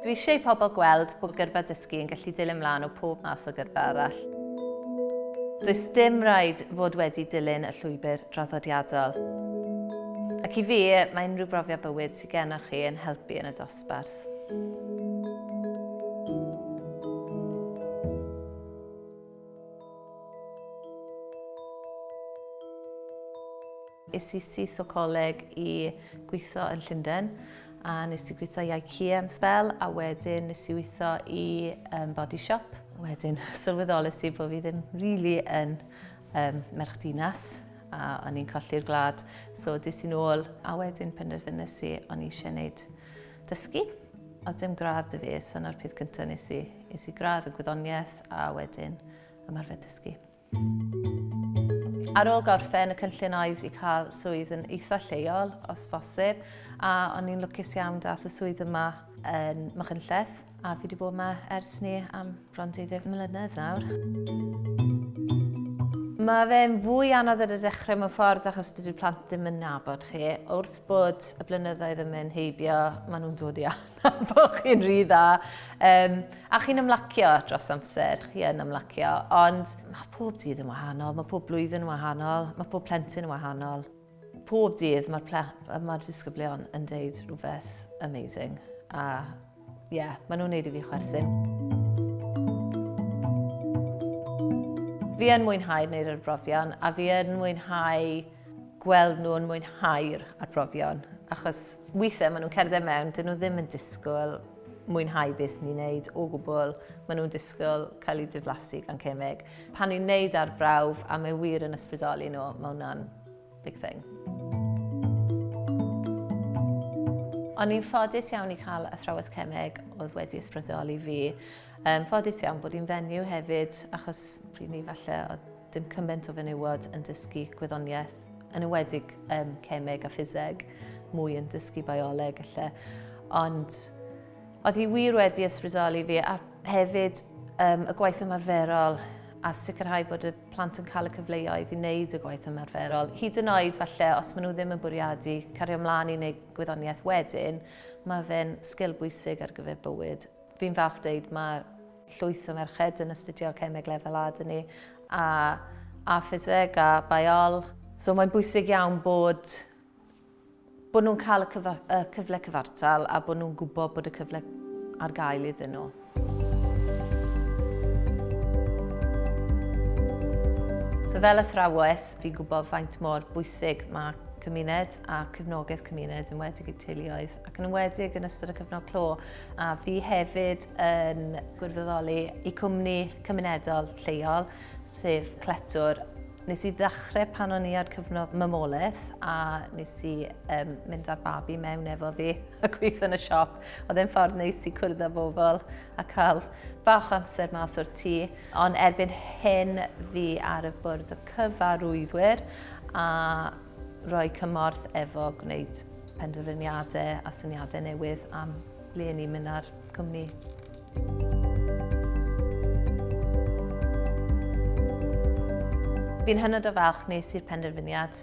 Dwi eisiau i pobl gweld bod gyrfa dysgu yn gallu dilyn mlaen o pob math o gyrfa arall. Does dim rhaid fod wedi dilyn y llwybr draddodiadol. Ac i fi, mae unrhyw brofiad bywyd sydd gennych chi yn helpu yn y dosbarth. Es i syth o coleg i gweithio yn Llundain a nes i gweithio i IKEA am sbel a wedyn nes i weithio i um, Body Shop. Wedyn sylweddolus i bod fi ddim really yn um, merch dinas a o'n i'n colli'r gwlad. So dis i'n ôl a wedyn penderfynus i o'n i eisiau gwneud dysgu. O dim gradd dy fi, so na'r peth cyntaf nes i, nes i gradd y gwyddoniaeth a wedyn ymarfer dysgu. Ar ôl gorffen, y cynllun oedd i cael swydd yn eitha lleol, os bosib, a o'n i'n lwcus iawn dath y swydd yma yn Machynlleth, a fi wedi bod yma ers ni am bron 20 mlynedd nawr. Mae fe'n fwy anodd ar y dechrau mewn ffordd achos dydy'r plant ddim yn nabod chi. Wrth bod y blynyddoedd yn mynd heibio, maen nhw'n dod i Pam bo chi'n rhy dda. Um, a chi'n ymlacio dros amser, chi yn ymlacio, ond mae pob dydd yn wahanol, mae pob blwyddyn yn wahanol, mae pob plentyn yn wahanol. Pob dydd mae'r mae disgyblion yn deud rhywbeth amazing. A ie, yeah, maen nhw'n neud i fi chwerthin. Fi yn mwynhau wneud yr brofion a fi yn mwynhau gweld nhw'n mwynhau'r arbrofion, achos weithiau maen nhw'n cerdded mewn, dyn nhw ddim yn disgwyl mwynhau beth ni'n neud o gwbl, maen nhw'n disgwyl cael eu diflasu gan cemeg. Pan ni'n neud arbrawf a mae wir yn ysbrydoli nhw, mae hwnna'n big thing. O'n i'n ffodus iawn i cael athrawes cemeg oedd wedi ysbrydoli fi. Um, ffodus iawn bod i'n fenyw hefyd, achos pryd ni falle oedd Dim cymaint o fenywod yn dysgu gwyddoniaeth, yn ywedig um, cemeg a ffiseg, mwy yn dysgu bioleg lle. Ond oedd hi wir wedi ysbrydoli fi a hefyd um, y gwaith ymarferol a sicrhau bod y plant yn cael y cyfleoedd i wneud y gwaith ymarferol. Hyd yn oed falle, os maen nhw ddim yn bwriadu cario ymlaen i wneud gwyddoniaeth wedyn, mae fe'n sgil bwysig ar gyfer bywyd. Fi'n falch deud mae llwyth o merched yn astudio cemeg lefel A dyn ni, a, a ffiseg, a baiol. So mae'n bwysig iawn bod, bod nhw'n cael y, cyfa, y cyfle cyfartal a bod nhw'n gwybod bod y cyfle ar gael iddyn nhw. So fel athrawes, fi'n gwybod faint mor bwysig mae cymuned a cyfnogaeth cymuned yn wedig i teuluoedd ac yn wedig yn ystod y cyfnod clo. A fi hefyd yn gwirfoddoli i cwmni cymunedol lleol, sef Cletwr. Nes i ddechrau pan o'n i ar cyfnod mamolaeth a nes i um, mynd â'r babi mewn efo fi a gweithio yn y siop. Oedd e'n ffordd neis i cwrdd â bobl a cael bach amser mas o'r tŷ. Ond erbyn hyn fi ar y bwrdd o cyfarwyddwyr a rhoi cymorth efo gwneud penderfyniadau a syniadau newydd am ble ni'n mynd ar cwmni. Fi'n hynod o falch nes i'r penderfyniad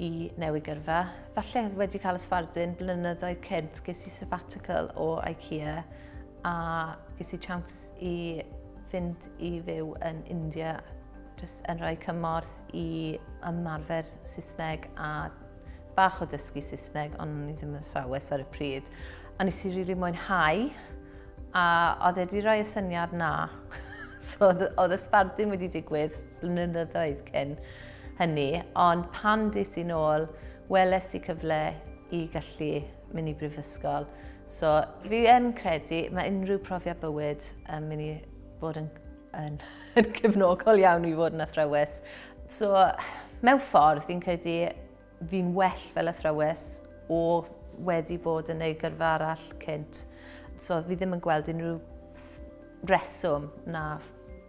i newid gyrfa. Falle wedi cael ysbardun blynyddoedd cynt ges i sabbatical o IKEA a ges i chance i fynd i fyw yn India jyst yn rhoi cymorth i ymarfer Saesneg a bach o dysgu Saesneg, ond o'n i ddim yn thrawes ar y pryd. A nes i rili really mwynhau, a oedd wedi rhoi y syniad na. so oedd y sbardun wedi digwydd blynyddoedd cyn hynny, ond pan dis i'n ôl, weles i cyfle i gallu mynd i brifysgol. So fi yn credu, mae unrhyw profiad bywyd yn mynd i bod yn Yn, yn cefnogol iawn i fod yn athrawes. So, mewn ffordd, fi'n credu fi'n well fel athrawes o wedi bod yn ei gyrfa arall cynt. So, fi ddim yn gweld unrhyw reswm na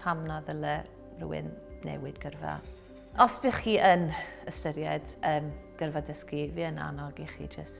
pam na ddyle rhywun newid gyrfa. Os bych chi yn ystyried um, gyrfa dysgu, fi yn annog i chi jyst